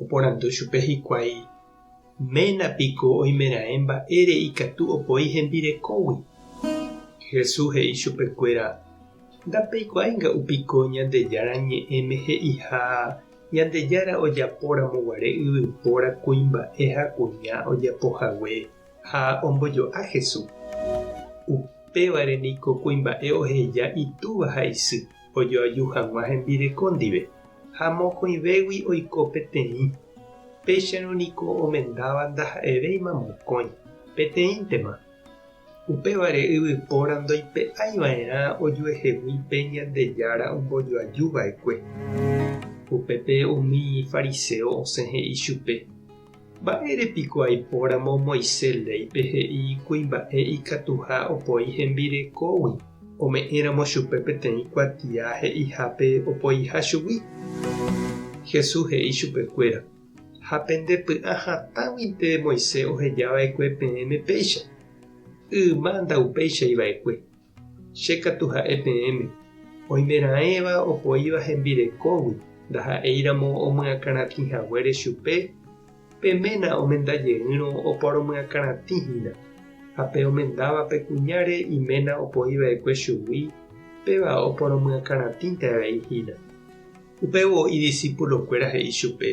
Oporandu chupe hikuái, Ména piko oimeraẽ mba'ére ikatu opoi hembirekógui? Jesús he'i chupekuéra, Ndapeikuaáinga upiko Ñandejára Ñe'ẽme he'iha, Ñandejára ojapóramo guare yvypóra kuimba'e ha kuña ojapo hague, ha ombojo'a Jesús. Upévare niko kuimba'e oheja itúva ha isy. ojoaju hag̃ua hembireko ndive, ha mokõivégui oiko peteĩ, péicharõ niko omendáva ndaha'evéima mokõi, peteĩntema. Upévare yvypóra ndoipe'aiva'erã ojuehegui pe Ñandejára ombojoajuva'ekue. Upépe umi fariseo osẽ he'i chupe. Mba'ére piko aipóramo Moisés léipe he'i kuimba'e ikatuha opoi hembirekógui, ome'ẽramo chupe peteĩ kuatia he'ihápe opoiha chugui? Jesús he'i chupekuéra, Ha pende py'ã hatãguinte Moisés ohejava'ekue peẽme péicha, yma ndaupeichaiva'ekue. Che katu ha'e peẽme, oimeraẽva opoíva hembirekógui ndaha'éiramo omyakãratĩ haguére chupe, pe ména omenda jeýrõ oporomyakãratĩ hína, ha pe omendáva pe kuñáre iména opoi va'ekue chugui, péva oporomyakãratĩnte avei hína. Upévo idisípulokuéra he'i chupe,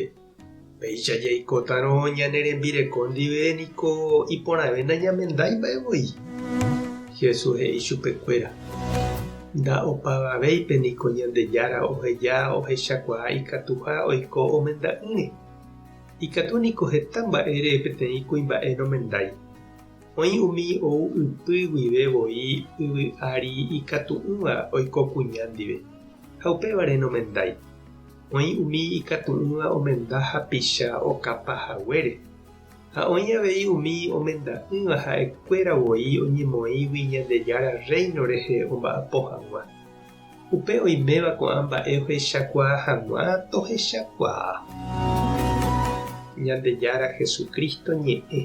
Péicha jaikótarõ ñane rembireko ndive niko iporãve nañamendái mba'e voi. Jesús he'i chupe kuéra, Nda opavavéipe niko Ñandejára oheja ohechakuaa ikatuha oiko omenda'ỹre. Ikatu niko heta mba'ére peteĩ kuimba'e nomendái. Oĩ umi ou ypy guive voi yvy ári ikatu'ỹva oiko kuña ndive, ha upévare nomendái. Oĩ umi ikatu'ỹva omenda hapicha okapa haguére, ha oĩ avei umi omenda'ỹva ha'ekuéra voi oñemoĩgui Ñandejára Rréino rehe omba'apo hag̃ua. Upe oiméva ko'ã mba'e ohechakuaa hag̃ua tohechakuaa. Ñandejára Jesucristo ñe'ẽ.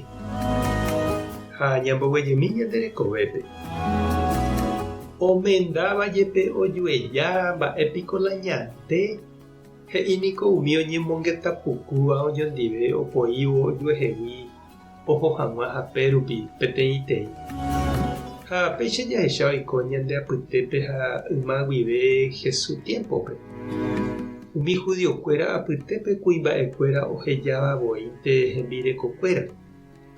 Ha ñamboguejymi ñande rekovépe. Omendáva jepe ojueja, mba'e piko la ñaĩ? Pe, he'i niko umi oñemongeta pukúva oñondive opoívo ojuehegui oho hag̃ua hape rupi peteĩteĩ. Ha péicha jahecha oiko ñande apytépe ha yma guive Jesús tiémpope, umi judiokuéra apytépe kuimba'ekuéra ohejáva voínte hembirekokuéra,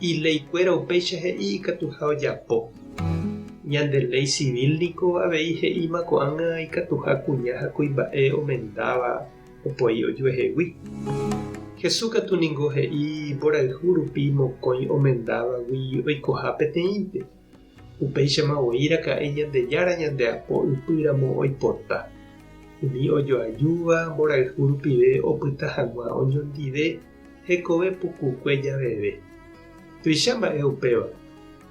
Iléikuéra upéicha he'i ikatuha ojapo. Ñande léi civil niko avei he'íma ko'ág̃a ikatuha kuña ha kuimba'e omendáva opoi ojuehegui. Jesús katu ningo he'i mborayhu rupi mokõi omendávagui oikoha peteĩnte. Upéichama voi raka'e Ñandejára ñande apo ypy ramo oipota. Umi ojoajúva mborayhu rupive opyta hag̃ua oñondive hekove pukukue javeve. Tuicha mba'e upéva,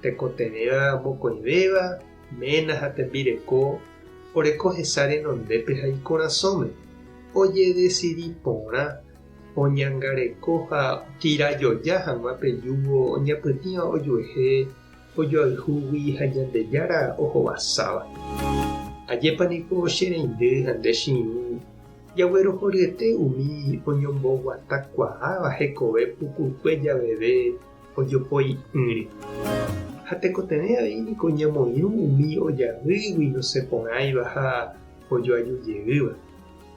tekotevẽva mokõivéva, ména ha tembireko oreko hesa renondépe ha ikorasõme, ojedesidi porã oñangareko ha tira joja hag̃ua pe júvo oñapytĩva ojuehe ojoayhúgui ha Ñandejára ohovasáva. Ajépa niko che reindy ha nde che irũ jaguerohoryete umi oñomboguatakuaáva hekove pukukue javeve ojopoi'ỹre. Ha tekotevẽ avei niko ñamoirũ umi ojaýgui nosẽporãiva ha ojoajujeýva.